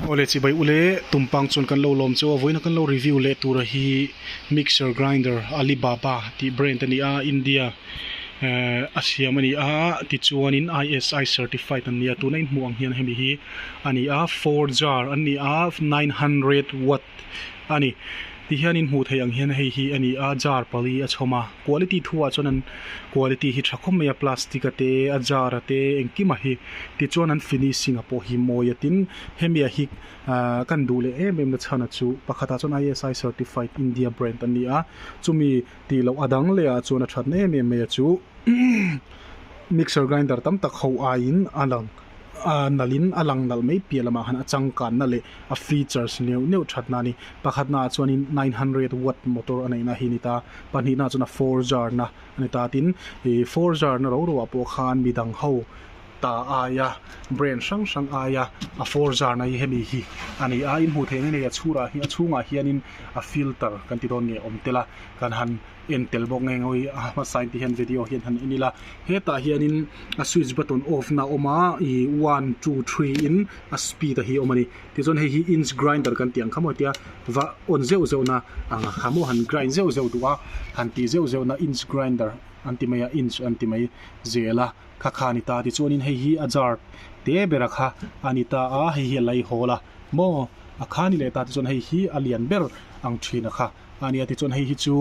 Awle chibai ule, tumpang chuan kan lo lawm che aw vawiin a kan lo review leh tura hi mixer grinder Alibaba tih brand a ni a, India ehh a siam a ni a, tichuanin ISI certified an ni a, tuna in hmuh ang hian hemi hi a ni a four jar an ni a nine hundred watt. a ni tih hian in hmuh theih ang hian hei hi a ni a jar pali a chhawm a quality thu ah chuan an quality hi tha khawp mai a plastic a te a jar a te engkim a hi tichuan an finishing a pawh hi mawi a tin hemi ah hi ah kan duh leh em em na chhan a chu pakhat ah chuan ISI certified India brand a ni a chumi tih loh a dang leh ah chuan a that na em em mai a chu mixer grinder tam tak ho ai in a lang. Ahh nalhin a lang nalh mai piah lamah khan a changkanna leh a features neuh neuh thatna a ni. Pakhatnaah chuanin nine hundred watt motor a neihna hi a ni ta, pahnihnaah chuan a four zharna a ni ta. Tin, ih four zharna ro roah pawh khan mi dang ho ta aia brand hrang hrang aia a four zharna hi hemi hi a ni a. In hmuh theih ang hi hei a chhurah hi a chhungah hianin a filter kan ti dawn nge awm tel a, kan han-- En tel bawk nge ngawi a hmasa in tih hian video hian han en ila hetah hianin a switch button off na awm a ih one two three in a speed a hi a awm a ni tichuan hei hi inch grinder kan tih ang kha maw tia va on zeuh zeuh na ang kha maw han grind zeuh zeuh duh a han tih zeuh zeuh na inch grinder an ti mai a inch an ti mai zel a kha kha a ni ta tichuanin hei hi a zar te bera kha a ni ta a hei hi a laihawl a maw a kha ni leh ta tichuan hei hi a lian ber ang thin a kha. A nia tichuan hei hi chu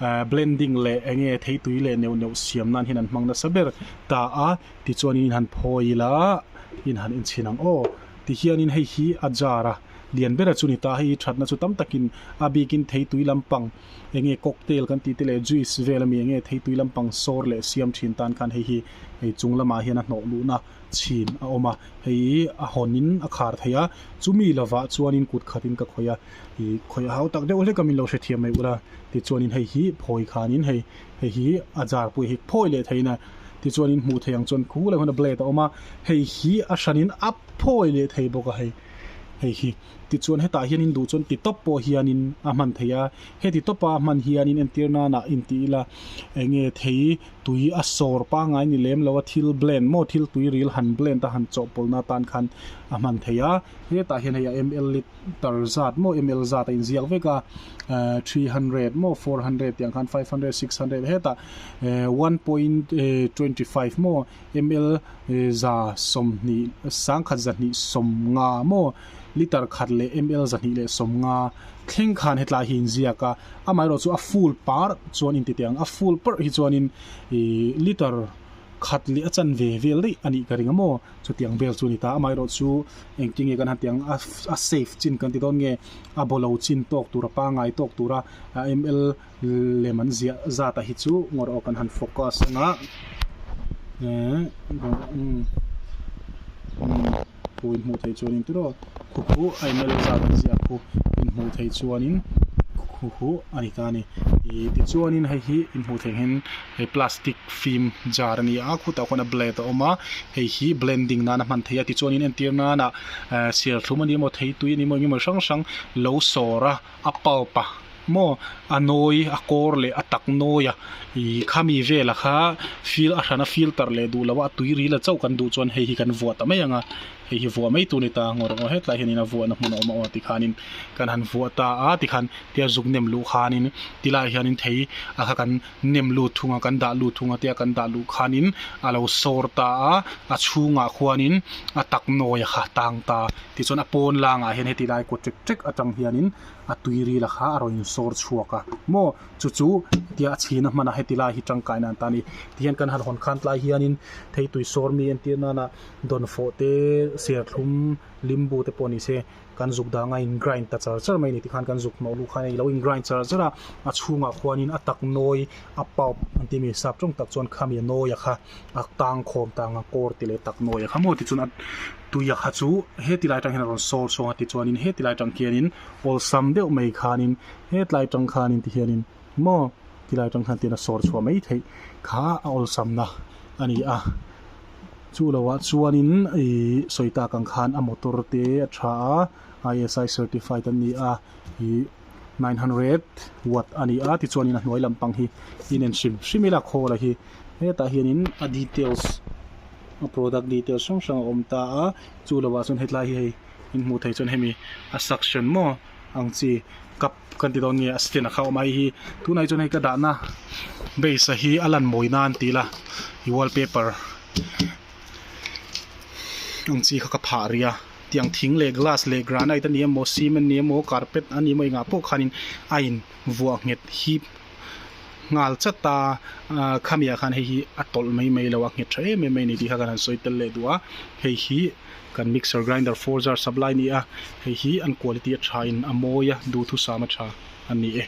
eh blending leh eng nge thei tui leh neuh neuh siam nan hian an hmang nasa ber ta a tichuan in han phawi ila in han in chhin ang aw tihian in hei hi a jar a lian ber a chu ni ta hei hi thatna chu tam tak in a bik in thei tui lam pang eng nge cocktail kan tih te leh juice vel a mi eng nge thei tui lam pang sawr leh siam thin tan khan hei hi hei chung lamah hian a hnawh luh na chhin a awm a hei a hawn in a khar thei a chu mi lovah chuan in kut khat in ka khawih a. Ih khawih a hau tak deuh hlek a min lo hrethiam mai ula tichuan in hei hi phawi khan in hei hei hi a zar pawh hi phawi leh thei in a tichuan in hmuh theih ang chuan khu lai huna blade a awm a hei hi a hran in a phawi leh thei bawk a hei hei hi tichuan hetah hian in duh chuan ti tawp pawh hian in a hman thei a heti tawp a hman hian in entir nan ah in ti ila eng nge thei tui a sawr pangai ni lem lo a thil blend maw thil tui ril han blend a han chawhpawlh na tan khan a hman thei a hetah hian hei a ml lit tar zat maw ml zat a inziak vek a ehh three hundred maw four hundred tih ang khan five hundred six hundred hetah ehh one point ehh twenty five maw ml ehh za sawmhnih sangkhat zahnih sawm nga maw litre khat leh ml zahnih leh sawm nga thleng khan hetlai hi inziak a amaherawh chu a full par chuan inti teh ang a full parh hi chuanin ihh litre khat leh a chanve vel daih a nih ka ring a maw. Chutiang vel chu a ni ta, amaherawh chu engtin nge kan han tih ang a safe chin kan ti dawn nge a bawlo chin tawk tur a pangngai tawk tura a ml lem an ziah zata hi chu ngaw kan han focus ang a khu in hmuh theih chuan entirawh khu khu a ml zat an ziah khu in hmuh theih chuan in khu khu a ni ta a ni tichuan in hei hi in hmuh theih hian in. hei plastic fim jar a ni a khutah khuan a blade a awm a hei hi blending nan a hman thei a tichuanin entir nana ehh serthlum a ni maw thei tui a ni maw engemaw hrang hrang lo sawr a a pulp a maw a nawi a kawr leh a tak nawi a ihh khami vela kha fil a hrana filter leh duh lohah a tui ril a chauh kan duh chuan hei hi kan vuah ta mai ang a hei hi vuah mai tu a ni ta ngawrh ngawrh hetlai hianin a vuahna hmun a awm a aw ti khanin kan han vuah ta a tikhan tia zuk nem luh khanin tilaiah hianin thei a kha kan-- nem lut thung a kan dah lut thung ate a kan dah luh khanin a lo sawr ta a, a chhungah khuanin a tak nawi a kha tang ta. Tichuan a pawn langa hian heti lai kut ṭek ṭek aṭang hianin a tuiril a kha a rawn insawr chhuak a maw chu chu tia a chhina hmana heti lai hi ṭangkaina an ta a ni. Tihian kan han hawn khan tlai hianin theitui sawrmi entir nana Dawnfawhte, Serthlum, Limbu te pawh ni se. Kan zuk danga in grind ta char char mai ni tikhan kan zuk hnawh luh khan ilo in grind char char a, a chhungah khuanin a tak nawi a pulp an tih mi sap tawng tak chuan kha mi a nawi a kha a tang khawm ta ang a kawr ti leh tak nawi a kha maw tichuan a tui a kha chu hetilai atang hian a rawn sawr chhuang a tichuanin hetilai atang khianin awlsam deuh mai khanin hetlai atang khanin tihianin. maw ti lai atang khan tihna sawr chhuah mai theih kha a awlsamna a ni a. Chu lo ah chuanin ih sawi tak ang khan a motor te a tha a, ISI certified an ni a, ih nine hundred watt a ni a, tichuanin a hnuai lampang hi inen hrim hrim ila call a hi hetah hianin a details a product details hrang hrang a awm ta a, chu lo ah chuan hetlai hi hei in hmuh theih chuan hemi a suction maw ang chi cup Kan ti dawn nge a stand a kha awm a heihi tunah hi chuan hei ka dahna base a hi a lan mawi nan tih ila i wallpaper ang chi kha ka phah ria tiang thing leh glass leh granite a ni emaw cement a ni emaw carpet a ni emaw engah pawh khanin a invuah nghet hi-- nghal chat a khami ah khan hei hi a tawlh mai mai lo a nghet tha em em mai a ni tih kha kan han sawi tel leh duh a hei hi kan mixer grinder four jar sak lai a ni a hei hi an quality a tha in a mawi a duhthusam a tha a ni e.